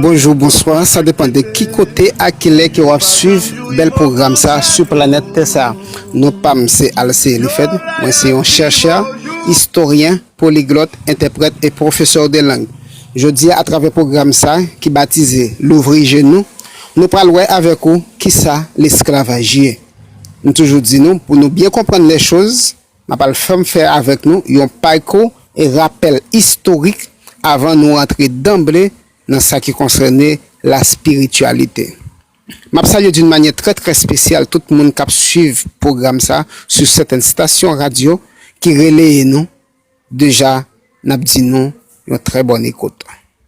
Bonjou bonswa sa depan de ki kote ak kilè ke wap swiv bèl pwogram sa sou planèt tè sa non pam se Alce Elifèd mwen se yon chèrchè istoryen poliglòt entèprèt e pwofesè de lang jodia atravè pwogram sa ki batize louvri je nou nou pral wè avèk ou kisa lesklavaj ye m toujou di nou pou nou byen konprann lèchoz Map al fèm fè avèk nou yon payko e rapèl istorik avan nou rantre danble nan sa ki konsène la spirityalite. Map salye d'une manyè trè trè spesyal tout moun kap swiv pwogram sa sou sètèn stasyon radyo ki releye nou deja nap di nou yon trè bòn ekout.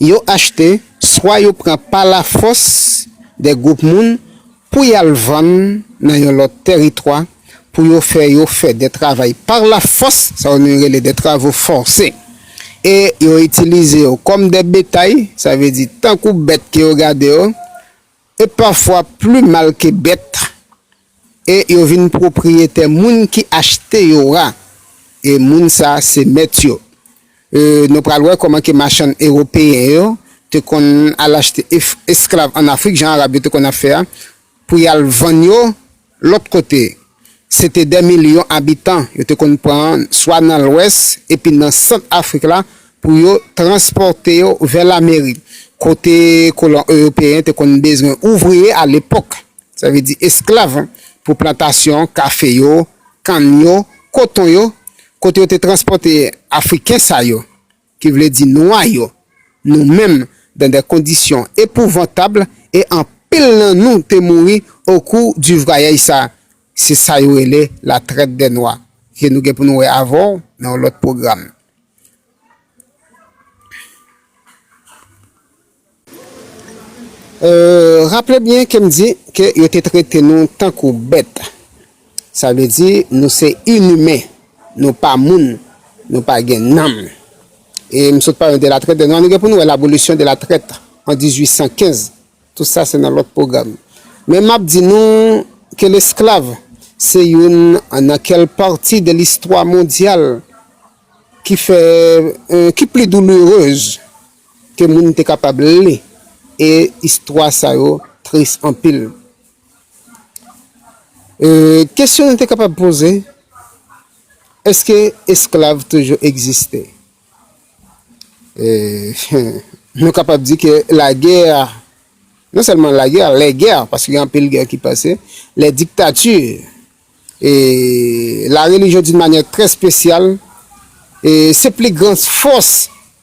Yo achte, swa yo pran pa lafòs de gwoup moun pou y al vann nan yon lòt tèritwa pou yo fè yo fè de travay par la fòs, sa yo menm rele de travaux forcés, e yo itilize yo kòm de betay, sa vle di tankou bèt ke yo gade yo, e pafwa pli mal ke bèt. E yo vin pwopriyetè moun ki achte yo a, e moun sa a se mèt yo. E nou pral wè kòman ke machann ewopeyen yo te konn al achte esklav ann Afrik, jan Arab yo te konn ap fè a, pou y al vann yo lòt kote. Se te dè milyon abitan yo te konn pran swa nan lwès epi nan sant Afrik la pou yo transpòte yo vè Lamerik, kote kolon ewopeyen te konn bezwen ouvriye alepòk Sa vle di esklav pou plantasyon kafe yo, kann yo, koton yo, kote yo te transpòte Afriken sa yo, ki vle di nwa yo, nou menm, dan dè kondisyon epouvantab, e anpil nan nou te mouri o kou di vwayèj sa. Se sa yo rele la trèt dè nwa, ke nou gen pou nou wè avè w nan yon lòt pwogram. Raple byen ke m di ke yo te trete nou tankou bèt. Sa vle di nou se inimen, nou pa moun, nou pa gen nanm. E m sot pale de la trèt de nwa, nou gen pou nou wè l'abolisyon de la trèt an 1815. Tout sa se nan lòt pwogram. Men m ap di nou ke lesklav se youn nan kèl pati de listwa mondyal ki fè, ki pli doulourez. Ke moun te kapab li e istwa sa yo tris anpil. E kesyon nou te kapab poze, eske esklav toujou egziste? E nou kapab di ke lagè, non sèlman lagè, lè gè, paske gen anpil gè ki pase, lè diktati, e la relijyon doun manyè trè spesyal, e se pli gran fòs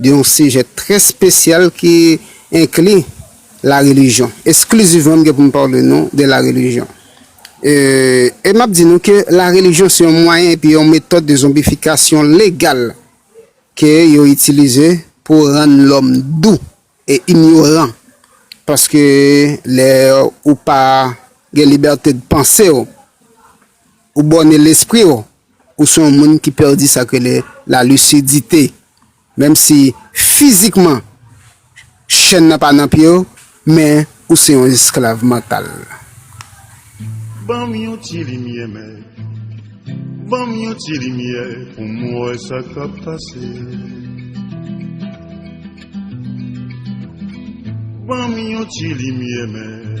Gen yon sijè trè spesyal ki enkli la relijyon. Esklizivman m gen pou m pale nou de la relijyon. E m ap di nou ke la relijyon se yon mwayen epi yon metòd de zonbifikasyon legal ke yo itilize pou rann lòm dou e inyoran. Paske lè ou pa gen libète de panse w. Ou bòne lespri w, ou se yon moun ki pèdi sa k rele la lisidite. Menm si fizikman chèn nan pa nan pye w, men ou se yon esklav mantal. Ban m yon ti limyè mèt, ban m yon ti limyè pou m wè sa k ap pase. Ban m yon ti limyè mèt.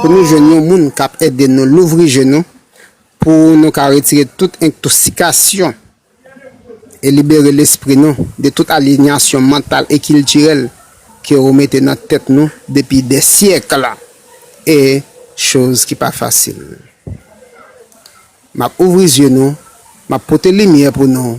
Pou nou jwenn yon moun k ap ede nou louvri je nou pou nou ka retire tout entoksikasyon e libere lespri nou de tout alinyasyon mantal e kiltirèl ke ou mete nan tèt nou depi dè syèkl e choz ki pa fasil. M ap ouvri zye nou, m ap pote limyè pou nou.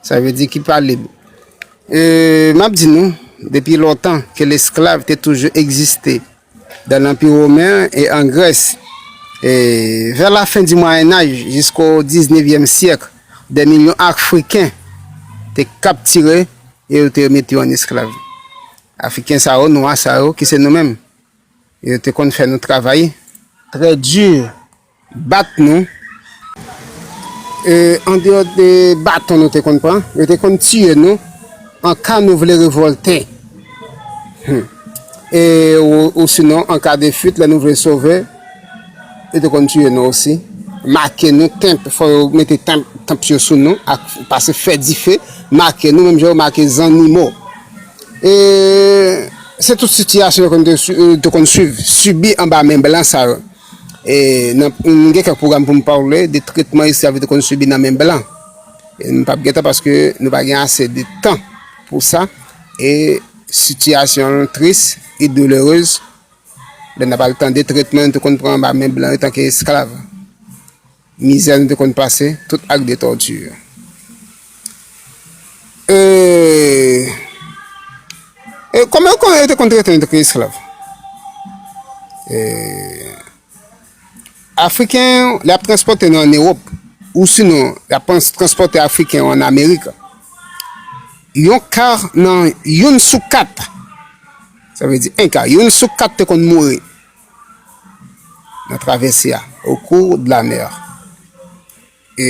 Sa vle di ki pa lib. E, m ap di nou, depi lontan ke lesklav te toujou egziste dan Lanpi Women an e an Grès. E, vè lafen di Mwayennaj jisko diznevyèm syèk, dè milyon Afriken te kaptire e yo te mete yo an esklav. Afriken sa yo, nwa sa yo, ki se nou menm. Yo te konn fè nou travay. Trè di. Bat nou. E andeyò de baton nou te konn pran, yo te konn tiye nou an ka nou vle revòlte. Hum. E osinon an ka de fuit lè nou vle sove, yo te konn tiye nou osi. Make nou, tanp, fò yo mete tanp, tanp yo sou nou ak pase fè dife, make nou menm jan yo make zannimo. E se tout sitiyasyon yo konn te, yo te konn swiv, sibi anba men blan sa yo. M gen kèk pwogram pou m pale de tretman esklav yo te konn sibi nan men blan. M pap gen tan paske nou pa gen ase de tan pou sa. E sitiyasyon l tris e doulerez lè n ap al tande tretman yo te konn pran anba men blan yo tanke esklav. Mizè nou te konn pase tout ak de tòti yo. E kòman kòman yo te konn trete nou tankou esklav? E Afriken yo, lè y ap transpòte nou ann Ewòp, ou sinon y ap transpòte Afriken yo ann Amerik, yon ka nan youn sou kat, sa vle di 1 ka, youn sou kat te konn mouri nan travèse a, au cours de la mer. E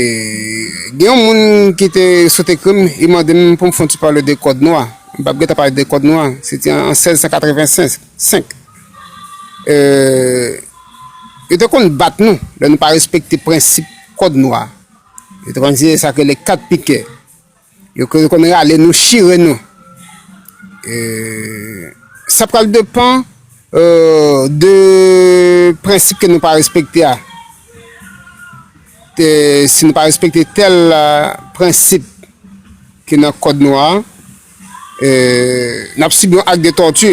gen yon moun ki te sot ekri m, li mande m pou m fon ti pale de kòd nwa. M pa p gen tan pale de kòd nwa, se te an 1685. E, yo te konn bat nou lè nou pa respekte prensip kòd nwa. Yo te konn di e sa yo rele 4 pikè. Yo konn rale nou chire nou. Sa pral depan de prensip ke nou pa respekte a. Si nou pa respekte tel prensip ki nan kòd nou a, n ap sibi yon ak de tòti.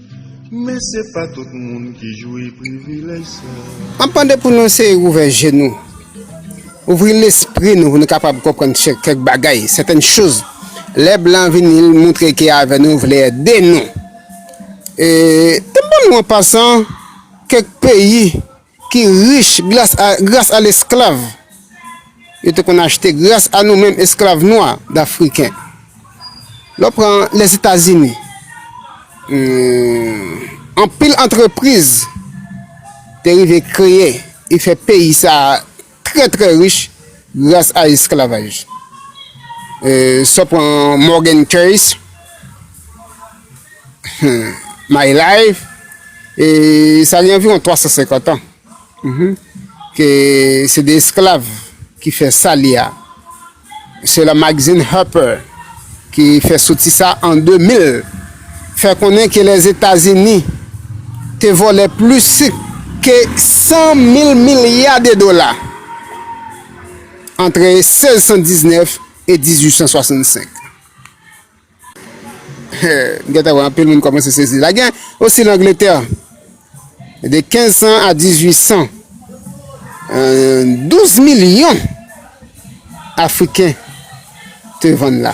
Men se pa tout moun ki jwi privilèj sa. Anpan de pou nou eseye ouvè je nou, ouvri lespri nou pou nou kapab konprann kèk bagay, sètèn choz, lè blan vini l moutre ke avè nou vle ede nou. E, te ban nou an pasan kèk peyi ki rich gras a lesklav yo te konn achte, gras a nou menm esklav nwa dafriken. Lè w pran Lèzetazini, anpil antrepriz te rive kreye e fè peyi sa a. trè trè rich gras a esklavaj. Sa pran Morgan Keyes, My Life, e sa gen anviwon 350 an, ke se de esklav ki fè sa li a. Se la magazin Harper ki fè soti sa an 2000 fè konnen ke Lèzetazini te vòlè plis ke 100 mil milya de dola antre 1619 e 1865. M gentan wè anpil moun kòmanse sezi la. Gen osi nan Angletè, de 1500 a 1800, 12 milyon Afriken te vann la.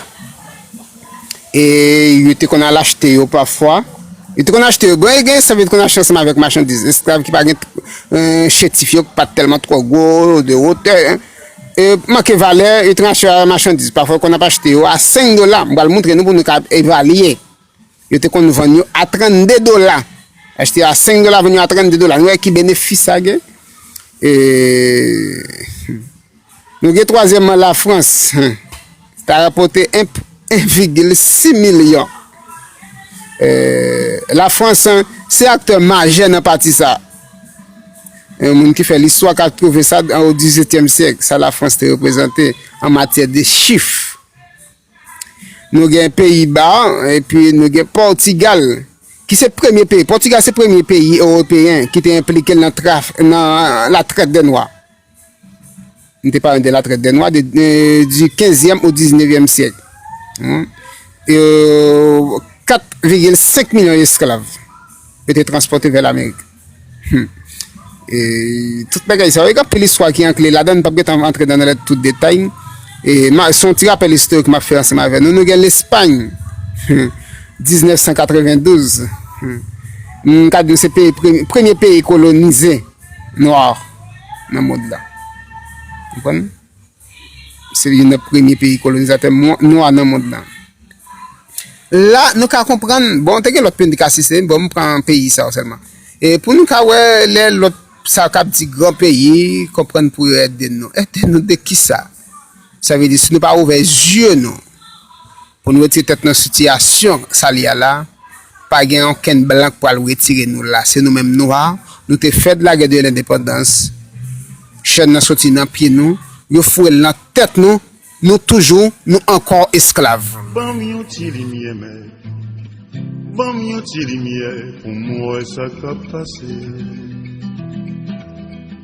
E yo te konn al achte yo pafwa. Yo te konn achte yo. Bon, e gen sa yo te konn achte ansanm avèk machandiz. Esklav ki pa gen chétif yo, ki pa t tèlman twò gwo, de wotè. Manke valè, yo transfere a machandiz. Pafwa yo konn ap achte yo a 5 dola. M pral montre nou pou nou ka evalye. Yo te konn vann yo a 32 dola. Achte yo a 5 dola, vann yo a 32 dola. Nou wè ki benefis sa gen? E... Nou gen twazyèmman la Frans. ta rapòte 1,6 milyon. Lafrans se aktè majè nan pati sa a. Yon moun ki fè listwa ka twouve sa an o XVIIèm syèk, sa Lafrans te reprezante an matyè de chif. Nou gen Peyiba epi nou gen Pòtigal ki se premye peyi, Pòtigal se premye peyi ewopeyen ki te enplike nan la trèt de nwa. N te pale de la trèt dè nwa de di kenzyèm o diznevyèm syèk. E 4,5 milyon esklav yo te transpòte vè Lamerik. E tout bagay sa yo, gen anpil istwa ki ankle ladan, m pap gen tan antre nan tout detay. E se yon ti rapèl istorik m ap fè ansanm avè nou. Nou gen Lespay, 1992, m ka di w se premye peyi kolonize. Noir nan mond la. Konprann? Se youn nan premye peyi kolonizatè nwa nan mond la. La nou ka konprann, bon te gen lòt peyi nou te ka site, bon m pran peyi sa yo sèlman. E pou nou ka wè lè lòt sa yo k ap di gran peyi, konprann pou yo ede nou. Ede nou de kisa? Sa vle di si nou pa ouvè zye nou. Pou n retire tèt nan sitiyasyon sali a la, pa gen okenn blan k pral retire nou la. Se nou menm nwa, nou te fè de lagè de lendepandans, chèn nan soti nan pye nou, yo foure l nan tèt nou, nou toujou, nou ankò esklav. Ban m yon ti limyè mèt Ban m yon ti limyè pou m wè sa k ap pase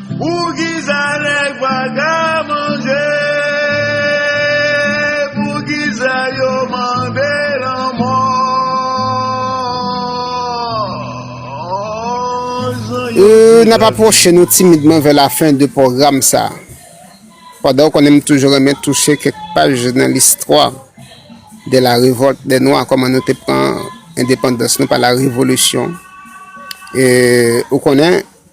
Poukisa nèg pa ka manje Poukisa yo mande lanmò Jan yo di N ap apwoche nou timidman vè lafen de pwogram sa a. Pandan ou konnen m toujou renmen touche kèk paj nan listwa de la revolte des noirs, kòman nou te pran endepandans nou pa la revolisyon, e ou konnen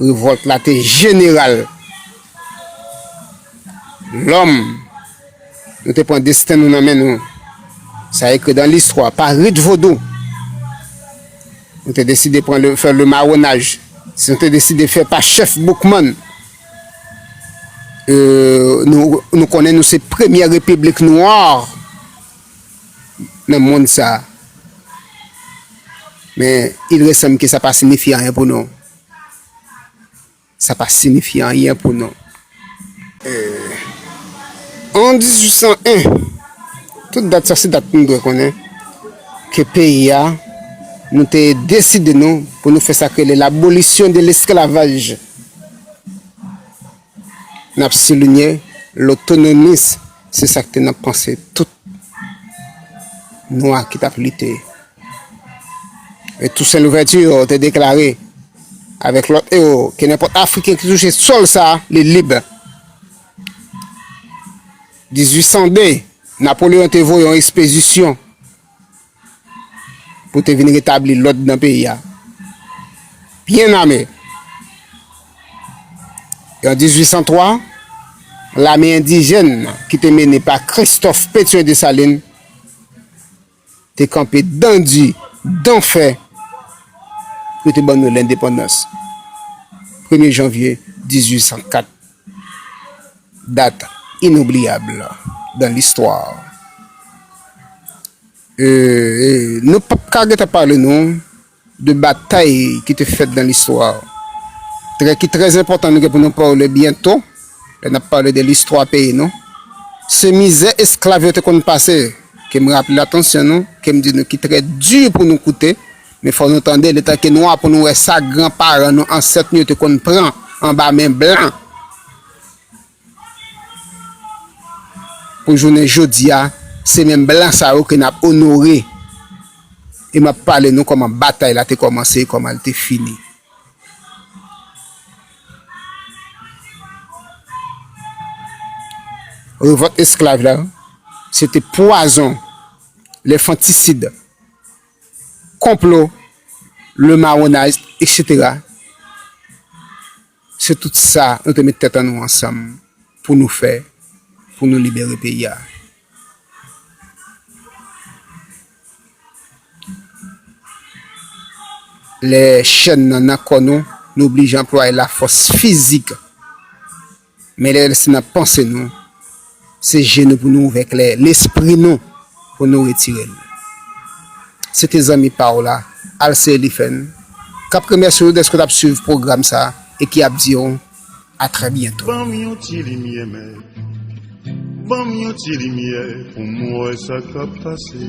Revòlt la te jeneral. Lòm, nou te pran desten nou nan men nou. Sa ekri dan listwa, pa rit vodou. Nou te deside pran le, fè le mawonaj. Si nou te deside fè pa chèf Boukman, euh, nou, nou konnen nou se premyè repiblik nwa. nan mond sa a, men il resanb ke sa pa sinifye anyen pou nou. Sa pa sinifye anyen pou nou. An 1801, tout dat sa se dat nou dwe konnen ke peyi a, nou te deside nou pou nou fè sa k rele l'abolisyon de l'esclavage. N ap soulinye lotonomis se sa k te nan panse tout Nwa ki t ap lite. E Tousen Louvèti te deklare avèk lòt ewo ke nenpòt Afriken ki touche sòl sa a li lib. 1802, Napoleyon te voye yon ekspezisyon. pou te vin retabli lòd nan peyi a, byen ame. E an 1803, lame endijèn ki te mennen pa Kristòf Petyon Desalin te kanpe dan di, dan fè pou te ban nou lendepandans, premye janvye 1804. Dat inoubliyab dan listwa. Nou p ap ka gentan pale nou de batay ki te fèt dan listwa. Trè ki trè zenpòtan nou gen pou nou pale byento lè n ap pale de listwa peyi nou, se mizè esklav yo te konn pase. Ke m raple atansyon nou, ke m di nou ki trè di pou nou koute. Men fò nou tande, letan ke nwa pou nou wè sa gran paran nou, ansèt nou yo te konn pran anba men blan pou jounen jodi a, se menm blan sa yo ke n ap onore e m ap pale nou kòman batay la te kòmanse e kòman l te fini. Revòlt esklav la, se te pwazon, lenfantisid, konplo, le marronage, etc. Se tout sa nou te met tèt an nou ansanm pou nou fè pou nou libere peyi a. Lè chèn nan nan kò nou, nou oblije anplwaye lafòs fizik. Men lè se nan panse nou, se je nou pou nou ouvè klè lespri nou pou nou retire l. Se te zanmi pa w la, Alce Eliphène, k ap remèsye w dèske w t ap suiv pwogram sa e ki ap di w a trè byento. Ban m yon ti limyè mèt Ban m yon ti limyè pou m wè sa k ap pase